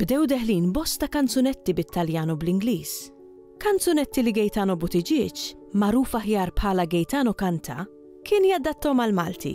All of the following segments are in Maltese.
Bdew deħlin bosta kanzunetti bit-Taljan u bl-Ingliż. Kanzunetti li Gaetano Buttigieg, magħruf aħjar bħala Gaetano Canta, kien jadattom għall-Malti.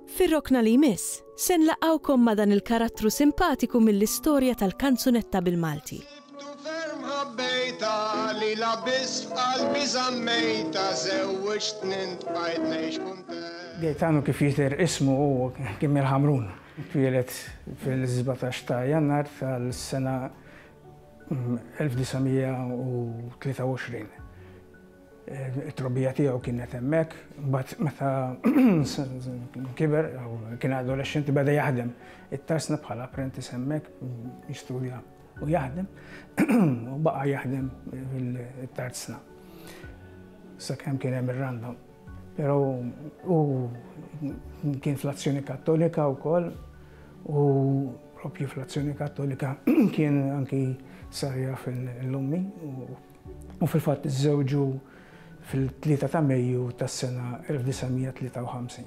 Fir-rokna li jmiss, se nlaqgħukom ma' dan il-karattru simpatiku mill-istorja tal-kanzunetta bil-Malti. Sibtu ferm ħabbejta, lilha biss f'qalbi żammejta, żewwiġtni ntqajt ngħix kuntent. Gaetano kif jidher ismu hu kien mill-Ħamrun. Twieled fil-17 ta' Jannar tal-sena 1923. It-trobbija tiegħu kienet hemmhekk, mbagħad meta kiber, kien adolexxenti beda jaħdem it-tarsna bħala apprentice hemmhekk, jistudja u jaħdem, u baqa' jaħdem it-tarsna sakemm kien hemm ir-random. Però hu kien fl-Azzjoni Kattolika wkoll u propju fl-Azzjoni Kattolika kien anki sarja fil-lummi u fil-fatt iżżewġu fil-3 ta' Mejju tas-sena 1953.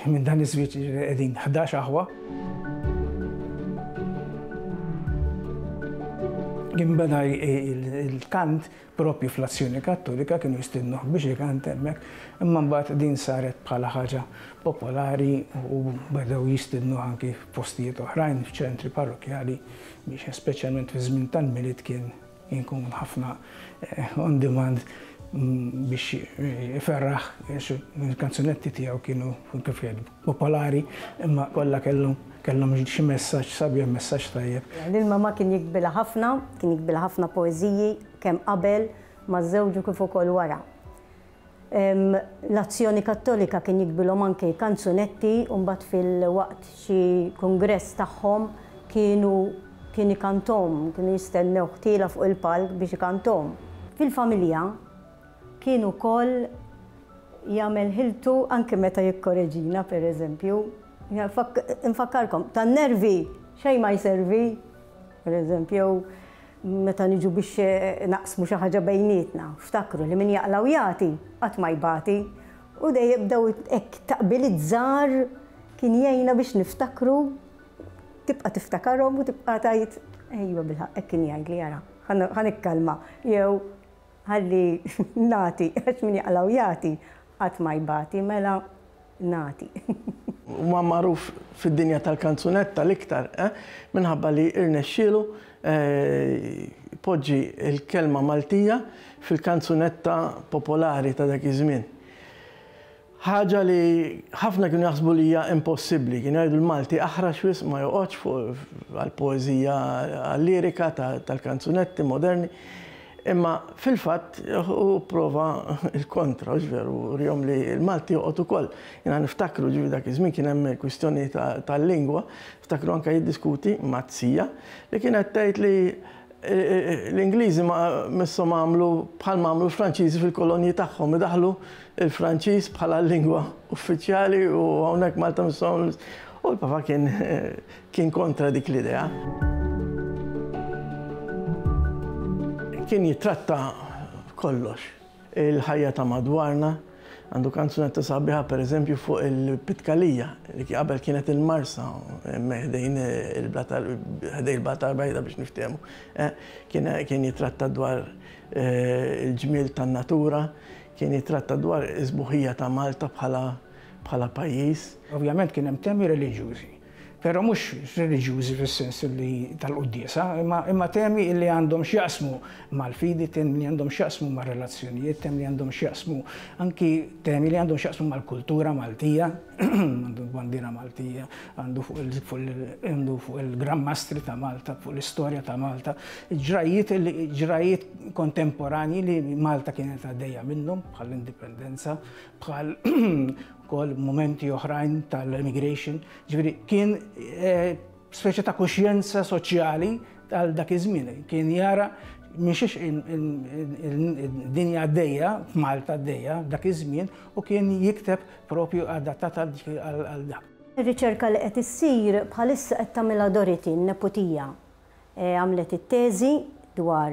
Minn dan iż-żwieġ qegħdin 11 aħwa. Kien beda il-kant Proprju fl-Azzjoni Kattolika kienu jistiednuh biex ikant hemmhekk, imma mbagħad din saret bħala ħaġa popolari u bedew jistiednuh anki f'postijiet oħrajn, f'ċentri parrokkjali biex speċjalment fiż-żmien tal-Milied kien ikun ħafna on demand biex iferraħ għax il-kanzunetti tiegħu kienu kif jgħidu. popolari imma kollha kellhom kellhom xi messaġġ sabiħ, messaġġ tajjeb. Lil mamà kien jikbilha ħafna, kien jikbilha ħafna poeżiji kemm qabel ma' żewġu kif ukoll wara. L-Azzjoni Kattolika kien jikbilhom anki kanzunetti u mbagħad fil-waqt xi kungress tagħhom kienu kien ikanthom, kienu jistennew ħtiela fuq il-palk biex ikanthom. Fil-familja, Kien ukoll jagħmel ħiltu anke meta jikkoreġina, pereżempju, infakkarkom, tan-nervi xejn ma jservi, pereżempju, jew meta niġu biex naqsmu xi ħaġa bejnietna, ftakru li min jaqla' u jagħti qatt ma jbati, u dejjem bdew hekk taqbiliet żgħar kien jgħinna biex niftakru, tibqa' tiftakarhom u tibqa' tgħid, ejwa bilħaqq hekk kien jgħidli ara, ħa nikkalma, jew Ħalli nagħti, għax min jaqla' u jagħti, qatt ma jbati, mela nagħti. Huwa magħruf fid-dinja tal-kanzunetta l-iktar, minħabba li rnexxielu jpoġġi l-kelma Maltija fil-kanzunetta popolari ta' dak iż-żmien. Ħaġa li ħafna kienu jaħsbu li hija impossibbli. Kienu jgħidu l-Malti aħrax wisq ma joqgħodx għall-poeżija għal-lirika tal-kanzunetti moderni. Imma fil-fatt hu pprova l-kontra, hux veru, urihom li l-Malti joqgħod ukoll. Jiena niftakru ġifieri dak iż-żmien kien hemm kwistjoni tal-lingwa, niftakru anke jiddiskuti ma' t-sija li kienet tgħid li L-Ingliżi misshom għamlu bħalma għamlu l-Franċiżi fil-kolonji tagħhom, idaħħlu l-Franċiż bħala lingwa uffiċjali u hawnhekk Malta misshom u l-Papa kien kien kontra dik l-idea. Kien jittratta kollox. il-ħajja ta' madwarna. Għandu kanzunetta sabiħa per eżempju fuq il-Pitkalija, li qabel kienet il-Marsa, ħdejn il-Blat tal-Bajda biex niftehmu. Kien jitratta dwar il-ġmiel tan-natura, kien jitratta dwar is-sbuħija ta' Malta bħala pajjiż. Ovvjament kien hemm temi reliġjużi. Però mhux reliġjużi fis-sens li tal-quddiesa, imma temi li għandhom x'jaqsmu mal-fidi, temi li għandhom x'jaqsmu mar-relazzjonijiet, temi li għandhom x'jaqsmu, anki temi li għandhom x'jaqsmu mal-kultura Maltija, għandu l-bandiera Maltija, għandu fuq il-Gran Mastri ta' Malta, fuq l-istorja ta' Malta, ġrajjiet li ġrajjiet kontemporanji li Malta kienet għaddejja minnhom bħall-Indipendenza, bħal ukoll momenti oħrajn tal-emigration, ġifieri kien eh, speċi ta' kuxjenza soċjali tal dak iż-żmien, kien jara miexiex il-dinja għaddejja, Malta għaddejja, dak iż-żmien, u kien jikteb propju adattat għal dak. Ir-riċerka li qed issir bħalissa qed tagħmilha Doriti n-neputija. E, għamlet it-teżi dwar